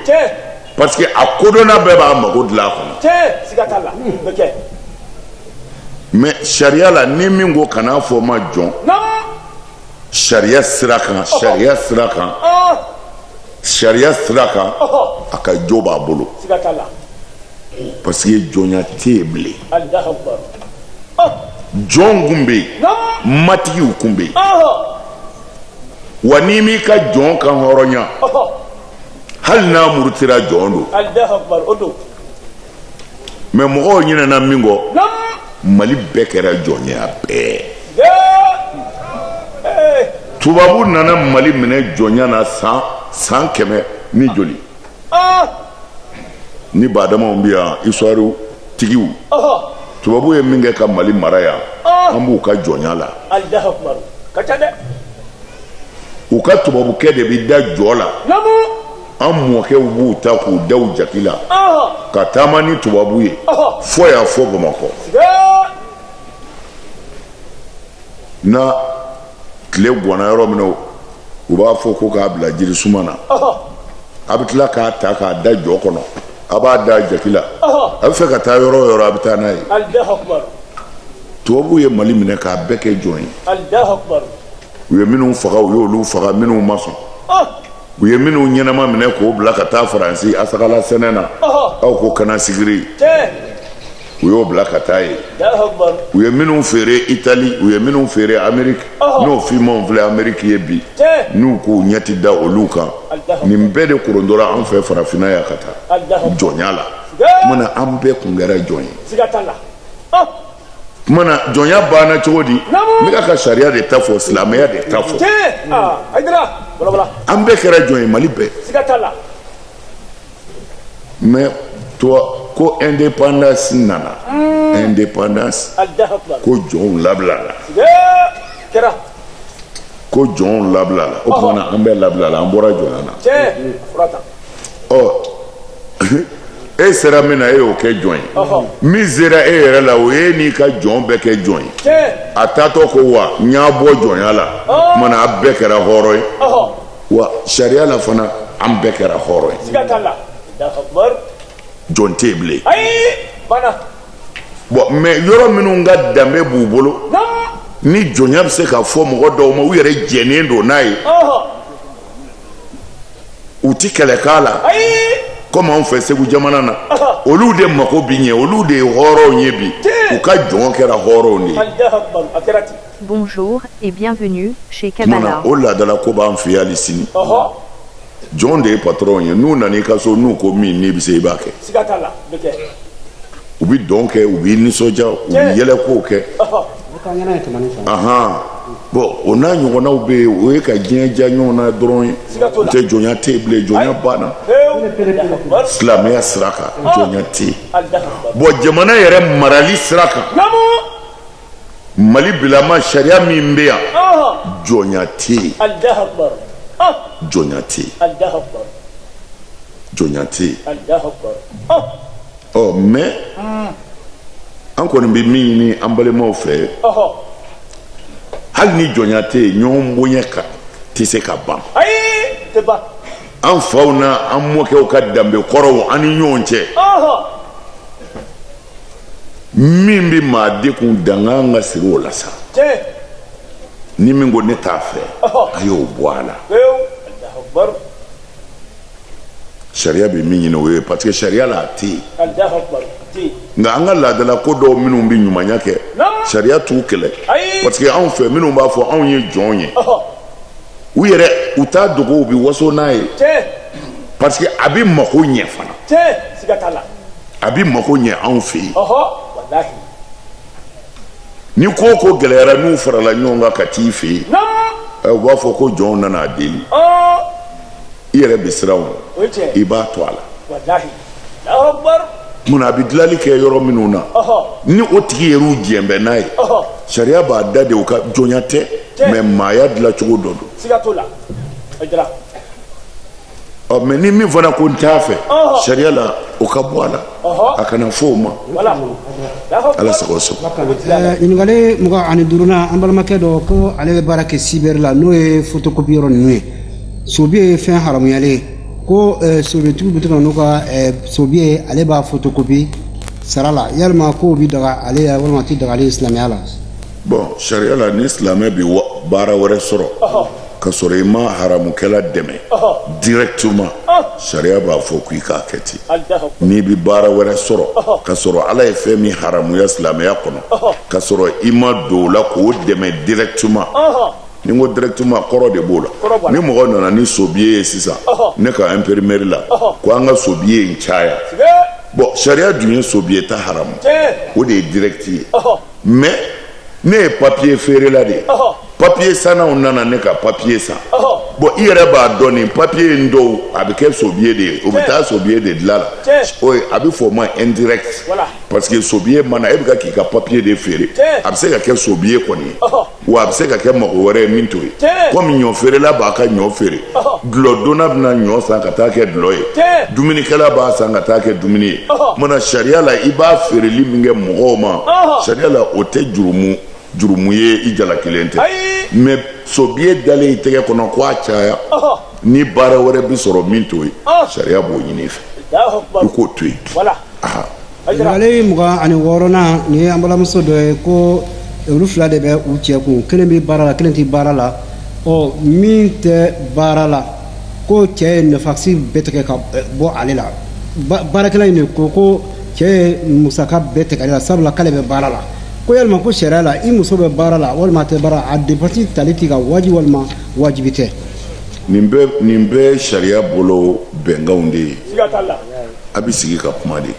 parce que a kodɔnna bɛɛ b'a mago dilan a kɔnɔ. tiɲɛ siga t'a la o bɛ kɛ. mais sariya la ni min ko kan'a fɔ n ma jɔn. sariya sira kan sariya sira kan sariya sira kan a ka jo b'a bolo. siga t'a la. parce que jɔnya tɛ yen bilen. jɔn kun bɛ yen matigiw kun bɛ yen wa n'i m'i ka jɔn kanhɔrɔnya. hali n'a murutira jɔn don alahu akubar o don mais mɔgɔw ɲinɛna min kɔ nam mali bɛɛ kɛra jɔn ye a bɛɛ ye ee tubabu nana mali minɛ jɔnya na san san kɛmɛ ni joli aa ni badamaw bɛ yan histoire tigiw ɔhɔ tubabu ye min kɛ ka mali mara yan Ah. an b'u ka jɔnya la alahu akubar ka ca dɛ u ka tubabukɛ de bɛ da jɔ la an mɔkɛw b'u ta k'u da u jaki la ka taama ni tubabu ye fɔ yan fɔ bamakɔ na tile gwana yɔrɔ min na u b'a fɔ ko k'a bila jiri suma na a bɛ tila k'a ta k'a da jɔ kɔnɔ a b'a da jaki la a b'a fɛ ka taa yɔrɔ o yɔrɔ a bɛ taa n'a ye tubabu ye mali minɛ k'a bɛɛ kɛ jɔn ye u ye minnu faga u y'olu faga minnu ma sɔn u ye minnu ɲɛnama minɛ k'o bila ka taa faransi asakala sɛnɛ na aw ko canne à sucre u y'o bila ka taa yen u ye minnu feere itali u ye minnu feere ameriki n'o fimanw filɛ ameriki yen bi n'u k'u ɲɛ ti da olu kan nin bɛɛ de korondora an fɛ farafinna yan ka taa jɔnya la tuma na an bɛɛ kun kɛra jɔn ye tuma na jɔnya banna cogo di ne kan ka sariya de ta fɔ silamɛya de ta fɔ an bɛɛ kɛra jɔn ye mali bɛɛ mɛ ko indépendance nana hmm. indépendance ko jɔnw labilala ko jɔnw labilala o tuma na an bɛɛ labilala an bɔra jɔnya na ɔ e sera min na e y'o kɛ jɔn ye min sera e yɛrɛ la o ye n'i ka jɔn bɛɛ kɛ jɔn ye a taatɔ ko wa n y'a bɔ jɔnya la tuma na a bɛɛ kɛra hɔrɔn ye wa sariya la fana an bɛɛ kɛra hɔrɔn ye jɔn tɛ yen bilen bɔn mɛ yɔrɔ minnu ka danbe b'u bolo ni jɔnya bɛ se ka fɔ mɔgɔ dɔw ma u yɛrɛ jɛnnen don n'a ye u tɛ kɛlɛ k'a la komi anw fɛ segu jamana na olu de mako bɛ ɲɛ olu de ye hɔrɔnw ye bi u ka jɔn kɛra hɔrɔnw de ye o laadala ko b'an fɛ yan hali sini jɔn de ye patɔrɔnw ye n'u nana i ka so n'u ko min n'i bɛ se i b'a kɛ u bɛ dɔn kɛ u b'i nisɔndiya u bɛ yɛlɛkow kɛ bɔn o n'a ɲɔgɔnnaw bɛ yen o ye ka diɲɛ diya ɲɔgɔn na dɔrɔn ye n'o tɛ jɔnya tɛ yen bilen jɔnya banna silamɛya sira kan jɔnya tɛ yen bɔn jamana yɛrɛ marali sira kan mali bilama sariya min bɛ yan jɔnya tɛ yen jɔnya tɛ yen jɔnya tɛ yen ɔ mɛ an kɔni bɛ min ɲini an balimaw fɛ hali ni jɔnya tɛ yen ɲɔgɔn bonya tɛ se ka ban an faw n'an mɔkɛw ka danbe kɔrɔw an ni ɲɔgɔn cɛ min bɛ maa de kun dankan ka siri o la sa ni min ko ne t'a fɛ a y'o bɔ a la sariya bɛ min ɲini o ye parce que sariya la a tɛ yen nka an ka laadala ko dɔw minnu bɛ ɲumanya kɛ sariya t'u kɛlɛ parce que anw fɛ minnu b'a fɔ anw ye jɔn ye u yɛrɛ u t'a dogo u bɛ waso n'a ye parce que a bɛ mako ɲɛ fana a bɛ mago ɲɛ anw fɛ yen ni ko o ko gɛlɛyara n'u farala ɲɔgɔn kan ka t'i fɛ yen eh, u b'a fɔ ko jɔnw nana a deli i yɛrɛ bɛ siran o i b'a to a la mun a bɛ dilanli kɛ yɔrɔ minnu na ni o tigi yɛrɛ u diɲɛ bɛ n'a ye sariya b'a da de u ka jɔnya tɛ mais maaya dilancogo dɔ don ɔ mais ni min fana ko n t'a fɛ sariya la o ka bɔ a la a kana fɔ o ma ala sago sɔn ɲininkali mugan ani duurunan an balimakɛ dɔ ko ale bɛ baara kɛ sibɛri la n'o ye fotokopi yɔrɔ ninnu ye sobiye ye fɛn haramuyalen ye ko sobiyetigiw bɛ to ka n'u ka sobiye ye ale b'a fotokopi sara la yalima k'o bi daga ale la walima a ti daga ale ye silamɛya la bon sariya la ni silamɛ bɛ baara wɛrɛ sɔrɔ ka sɔrɔ i ma haramukɛla dɛmɛ directement sariya b'a fɔ ko i k'a kɛ ten n'i bɛ baara wɛrɛ sɔrɔ ka sɔrɔ ala ye fɛn min haramuya silamɛya kɔnɔ ka sɔrɔ i ma don o la k'o dɛmɛ directement ni n ko directement kɔrɔ de b'o la ni mɔgɔ nana ni sobiye ye sisan ne ka imprimerie la ko an ka sobiye in caya bon sariya dun ye sobiye ta haramu o de ye direct ye. mais ne ye papiye feerela de ye papiye sannaw nana ne ka papiye san bon i yɛrɛ b'a dɔn nin papiye in dɔw a bɛ kɛ sobiye de ye o bɛ taa sobiye de dilan la o ye a bɛ fɔ o ma indirect parce que sobiye ma na e bɛ ka k'i ka papiye de feere a bɛ se ka kɛ sobiye kɔni ye. wa a bɛ se ka kɛ mago wɛrɛ ye min t'o ye komi ɲɔ feerela b'a ka ɲɔ feere dulɔdonna bɛna ɲɔ san ka taa kɛ dulɔ ye dumunikɛla b'a san ka taa kɛ dumuni ye mana sariya la i b'a feereli min kɛ mɔgɔw ma sariya la o tɛ jurumu jurumu ye i jalakilen tɛ mais sobiye dalen i tɛgɛ kɔnɔ ko a caya ni baara wɛrɛ bɛ sɔrɔ min t'o ye sariya b'o ɲini i fɛ i k'o to yen Ɲininkali mugan ani wɔɔrɔnan nin ye an balimamuso dɔ ye ko olu fila de bɛ u cɛ kun kelen bɛ baara la kelen tɛ baara la ɔ min tɛ baara la ko cɛ ye dépense bɛɛ tigɛ ka bɔ ale la baarakɛla in de ko cɛ ye musaka bɛɛ tigɛ ale la sabula k'ale bɛ baara la ko yalima ko sariya la i muso bɛ baara la walima a tɛ baara la a dépense tali k'i ka wajibi walima wajibi tɛ nin bɛɛ sariya bolo bɛnkanw de ye a bɛ sigi ka kuma de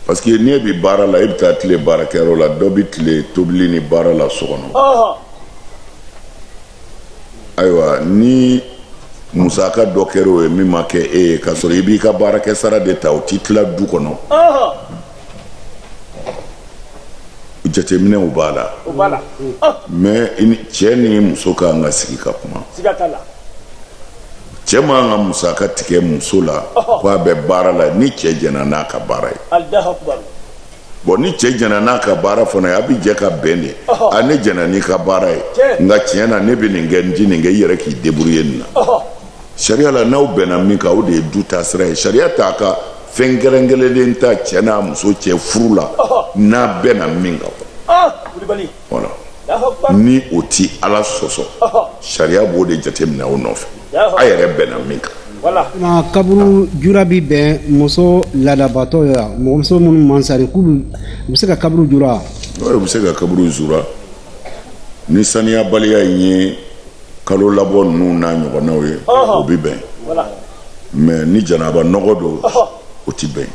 parce que n'e bɛ baara la e bɛ taa tile baarakɛyɔrɔ la dɔ bɛ tile tobili ni baara la so kɔnɔ ayiwa ni musaka dɔ kɛra o ye min ma kɛ e ye k'a sɔrɔ i b'i ka baarakɛ sara de ta o t'i tila du kɔnɔ jateminɛw b'a la mais cɛ ni muso ka kan ka sigi ka kuma cɛ man kan ka musaka tigɛ muso la ko a bɛ baara la ni cɛ jɛna n'a ka baara ye bon ni cɛ jɛna n'a ka baara fana ye a bɛ jɛ ka bɛn de a ne jɛna n'i ka baara ye nka tiɲɛ na ne bɛ nin kɛ n tɛ nin kɛ i yɛrɛ k'i débrouiller nin na sariya la n'aw bɛnna min kan o de ye du ta sira ye sariya t'a ka fɛn kɛrɛnkɛrɛnlen ta cɛ n'a muso cɛ furu la n'a bɛnna min kan Voilà. Ni o ti ala sɔsɔ sariya b'o de jateminɛ o nɔfɛ a yɛrɛ bɛnna min kan na kaburu jura bi bɛn muso laadabatɔ ye wa mɔgɔ muso minnu man sani k'olu u bɛ se ka kaburu jura wa o bɛ se ka kaburu jura ni saniyabaliya in ye kalo labɔ ninnu n'a ɲɔgɔnnaw ye o bɛ bɛn mais ni janaba nɔgɔ don o tɛ bɛn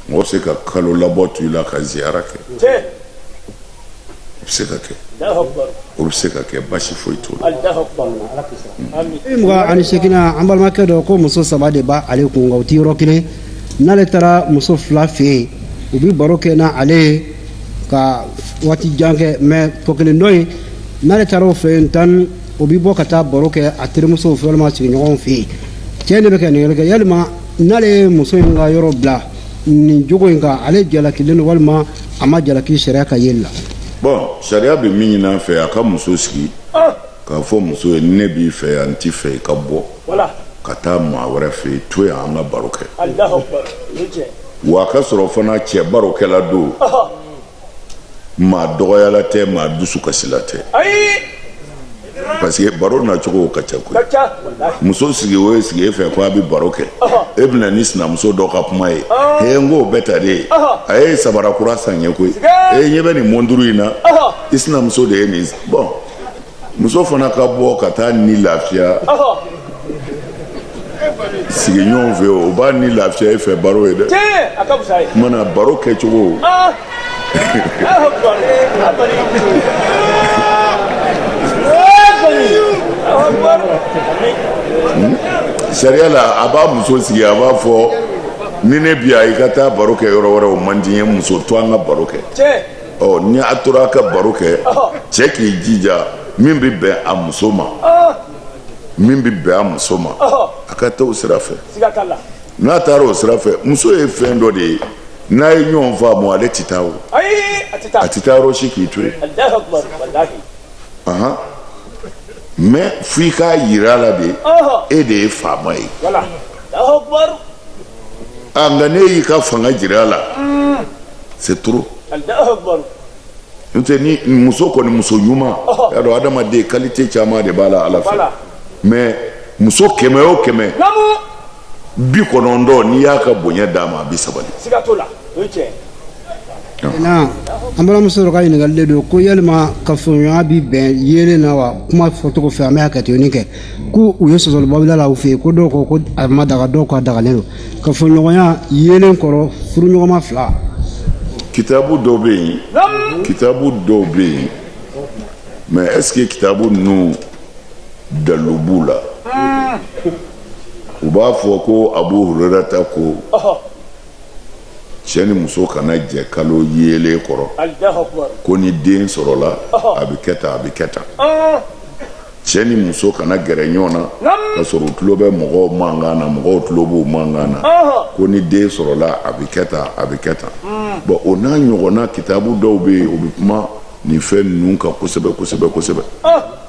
mɔgɔ bɛ se ka kalo labɔ to i la ka ziyara kɛ o bɛ se ka kɛ o bɛ se ka kɛ basi foyi t'o la mugan ani seginnan an balimakɛ dɔ ko muso saba de b'a ale kun nka u ti yɔrɔ kelen n'ale taara muso fila fɛ yen u bɛ baro kɛ n'ale ye ka waati jan kɛ mais tɔ kelen dɔ in n'ale taara o fɛ yen tan o bɛ bɔ ka taa baro kɛ a terimusow fɛ walima sigiɲɔgɔnw fɛ yen cɛ de bɛ kɛ nin kɛ yalima n'ale ye muso in ka yɔrɔ bila nin jogo in kan ale jalakilen don walima a ma jalaki sariya ka yeli la bon sariya bɛ min ɲini a fɛ a ka muso sigi ah! k'a fɔ muso ye ne b'i fɛ yan n t'a fɛ i ka bɔ ka taa maa wɛrɛ fɛ yen to yan an ka baro kɛ wa a k'a sɔrɔ fana cɛ barokɛla don maa dɔgɔyala tɛ maa dusu kasila tɛ parce que baro nacogo ka ca koyi muso sigi o y'i sigi e fɛ ko a bɛ baro kɛ e bɛ na ni sinamuso dɔ ka kuma ye he n ko bɛɛ ta de ye a ye sabara kura san n ye koyi e ɲɛ bɛ nin mɔnduru in na i sinamuso de ye nin bon muso fana ka bɔ ka taa ni lafiya sigiɲɔgɔnw fɛ o b'a ni lafiya e fɛ baro ye dɛ mana baro kɛcogo ah! hmm? sariya la a b'a muso sigi a b'a fɔ ni ne bi yan i ka taa baro kɛ yɔrɔ wɛrɛ o man di n ye muso to an ka baro kɛ ɔ ni a tora a ka baro kɛ cɛ k'i jija min bɛ bɛn a muso ma min bɛ bɛn a muso ma a ka taa o sira fɛ n'a taara o sira fɛ muso ye fɛn dɔ de ye n'a ye ɲɔgɔn faamu ale tɛ taa o a tɛ taa yɔrɔ si k'i to yen mais f'i k'a yira a la de e de ye faama ye a nka n'e y'i ka fanga jira a la c'est trop n'o tɛ ni muso kɔni muso ɲuman y'a dɔn adamaden qualité caman de b'a la ala fɛ mais muso kɛmɛ o kɛmɛ bi kɔnɔntɔn n'i y'a ka bonya d'a ma a bɛ sabali. na an balimamuso dɔ ka ɲininkali de don ko yalima kafoɲɔgɔnya bi bɛn yeelen na wa kuma fɔcogo fɛ an bɛ hakɛtoni kɛ ko u ye sɔsɔliba bila a la u fɛ yen ko dɔw ko ko a ma daga dɔw k'a dagalen don kafoɲɔgɔnya yeelen kɔrɔ furuɲɔgɔnma fila kitabu dɔw bɛ yen kitabu dɔw bɛ yen mais est-ce que kitabu ninnu dalilu b'u la u b'a fɔ ko abu hurera ta ko cɛ ni muso kana jɛ kalo yeelen kɔrɔ ko ni den sɔrɔla a bɛ kɛ tan a bɛ kɛ tan cɛ ni muso kana gɛrɛ ɲɔgɔn na ka sɔrɔ u tulo bɛ mɔgɔw mankan na mɔgɔw tulo b'u mankan na ko ni den sɔrɔla a bɛ kɛ tan a bɛ kɛ tan bon o n'a ɲɔgɔnna kitabu dɔw bɛ yen o bɛ kuma nin fɛn ninnu kan kosɛbɛ kosɛbɛ kosɛbɛ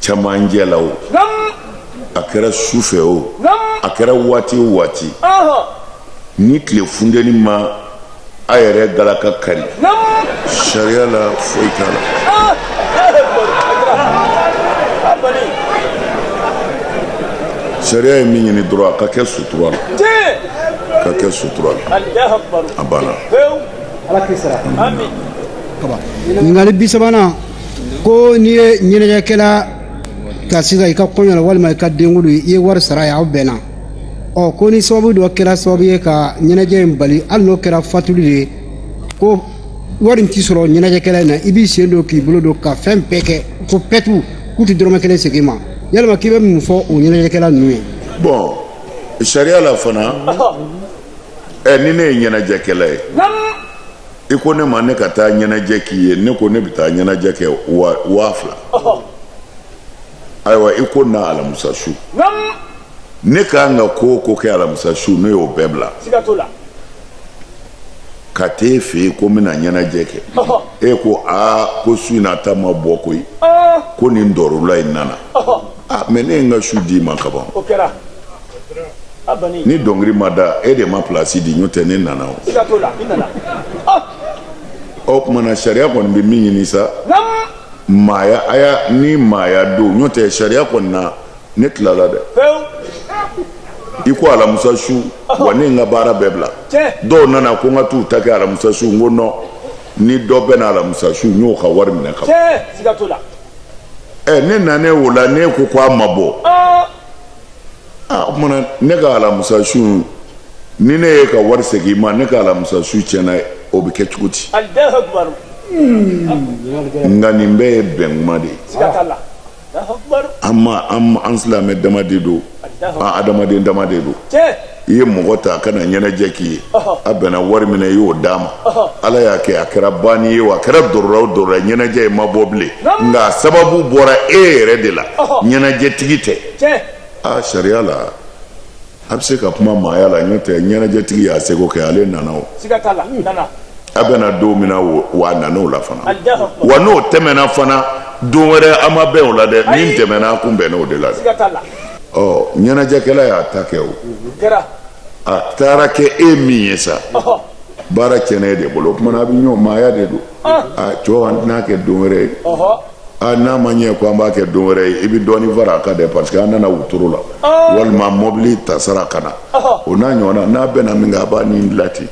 cɛmancɛ la o a kɛra su fɛ o a kɛra waati o waati ni tile funteni ma a yɛrɛ galaka kari sariya la foyi t'a la sariya ye min ɲini dɔrɔn a ka kɛ sutura la ka kɛ sutura la a banna ɲininkali bi sabanan ko n'i ye ɲɛnajɛkɛla ta sisan i ka kɔɲɔ la walima i ka denkundi i ye wari sara a ye aw bɛnna ɔ ko ni sababu dɔ kɛra sababu ye ka ɲɛnajɛ in bali hali n'o kɛra fatuli de ye ko wari in tɛ sɔrɔ ɲɛnajɛkɛla in na i b'i sen don k'i bolo don ka fɛn bɛɛ kɛ ko pɛtu k'u tɛ dɔrɔmɛ kelen segin i ma yalima k'i bɛ mun fɔ o ɲɛnajɛkɛla ninnu ye bon sariya la fana ɛ ni ne ye ɲɛnajɛkɛla ye i ko ne ma ne ka taa ɲɛnajɛ k'i ye ne ko ne bɛ taa ɲɛnajɛ kɛ waa fila ayiwa i ko na alamisa su ne ka kan ka ko o ko kɛ alamisa su ne y'o bɛɛ bila ka t'e fɛ yen ko n bɛna ɲɛnajɛ kɛ e ko aa ko su in na ta ma bɔ koyi ko nin dɔrɔla in nana mais ne ye n ka su d'i ma kaban ni dɔnkili ma da e de ma plasi di n'o tɛ ne nana o ah! o tuma na sariya kɔni bɛ min ɲini sa maaya a y'a ni maaya don n'o tɛ sariya kɔni na ne tilala dɛ i ko alamusa su wa ne n ka baara bɛɛ bila dɔw nana ko n ka t'u ta kɛ alamusa su n ko non ni dɔ bɛ na alamusa su n y'o ka wari minɛ ka ban ne nanen o la ne ko ko a ma bɔ ah! aa o tuma na ne ka alamusa su ni ne y'e ka wari segin i ma ne ka alamusa su tiɲɛna o bɛ kɛ cogo di nka nin bɛɛ ye bɛnkuma de ye an ma an silamɛ dama de don an adamaden dama de don i ye mɔgɔ ta a ka na ɲɛnajɛ k'i ye a bɛnna wari min na i y'o d'a ma ala y'a kɛ a kɛra banni ye a kɛra dɔrɔla dɔrɔla ɲɛnajɛ ye ma bɔ bilen nka sababu bɔra e yɛrɛ de la ɲɛnajɛtigi tɛ aa sariya la a bɛ se ka kuma maaya la n'o tɛ ɲɛnajɛtigi y'a seko kɛ ale nana o a bɛnna don min na wa a nana o la fana wa n'o tɛmɛna fana don wɛrɛ an ma bɛn o la dɛ min tɛmɛna a kun bɛnna o de la dɛ ɔ ɲɛnajɛkɛla y'a ta kɛ o a taara kɛ e min ye sa baara tiɲɛna e de bolo o tuma na a bɛ ɲɔgɔn maaya de don a cɛw an tɛn'a kɛ don wɛrɛ ye a n'a ma ɲɛ ko an b'a kɛ don wɛrɛ ye i bɛ dɔɔnin fara a kan dɛ parce que an nana wotoro la walima mɔbili ta sara ka na o n'a ɲɔgɔnna n'a bɛnna min kan a b'a dila ten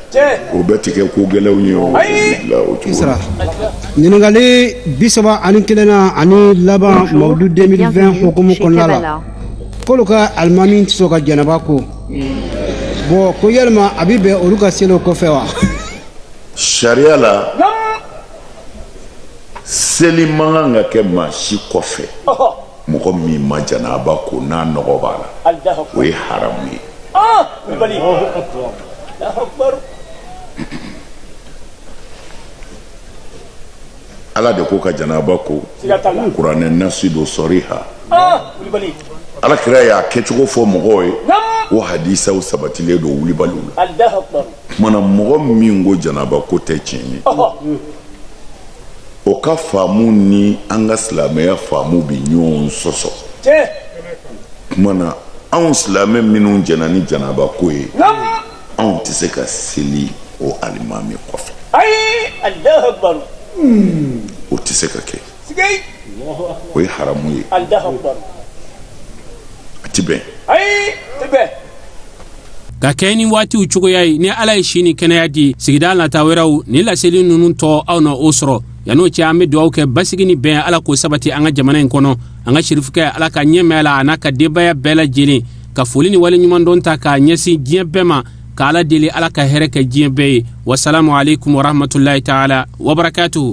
o bɛɛ tɛ kɛ ko gɛlɛnw ye o la o cogo Isra. ɲininkali bi saba ani kelennan ani laban mawudu 2020 hukumu kɔnɔna la k'olu ka alimami tɛ sɔn ka janaba ko bon ko yalima a bɛ bɛn olu ka seli o kɔfɛ wa sariya la seli man kan ka kɛ maa si kɔfɛ mɔgɔ min ma janaba ko n'a nɔgɔ b'a la o ye haramu ye ah, ala de ko ka janaba ko kuranɛ nasi don sɔriha ah, ala kira y'a kɛcogo fɔ mɔgɔw ye o hadisaw sabatilen don wulibaliw la kuma na mɔgɔ min ko janaba ko tɛ tiɲɛ ye o ka faamu ni an ka silamɛya faamu bɛ ɲɔgɔn sɔsɔ kuma na anw silamɛ minnu jɛnna ni janaba ko ye anw tɛ se ka seli o alimami kɔfɛ o tɛ se ka kɛ o ye haramu ye a ti bɛn ka kɛɲɛ ni waatiw cogoya ye ni ala ye si ni kɛnɛya di sigida nata wɛrɛw ni laseli ninnu tɔ aw na o sɔrɔ yan'o cɛ an be dugawu kɛ basigi ni bɛn ala k'o sabati an ka jamana in kɔnɔ an ka sirifukɛ ala ka nɛɛma a la a n'a ka denbaya bɛɛ lajɛlen ka foli ni waleɲumandɔn ta k'a ɲɛsin diɲɛ bɛɛ ma ka ala deli ala ka hɛrɛ kɛ diɲɛ bɛɛ ye wasalamu aleykum warahmatulahi taala wabarakatuhu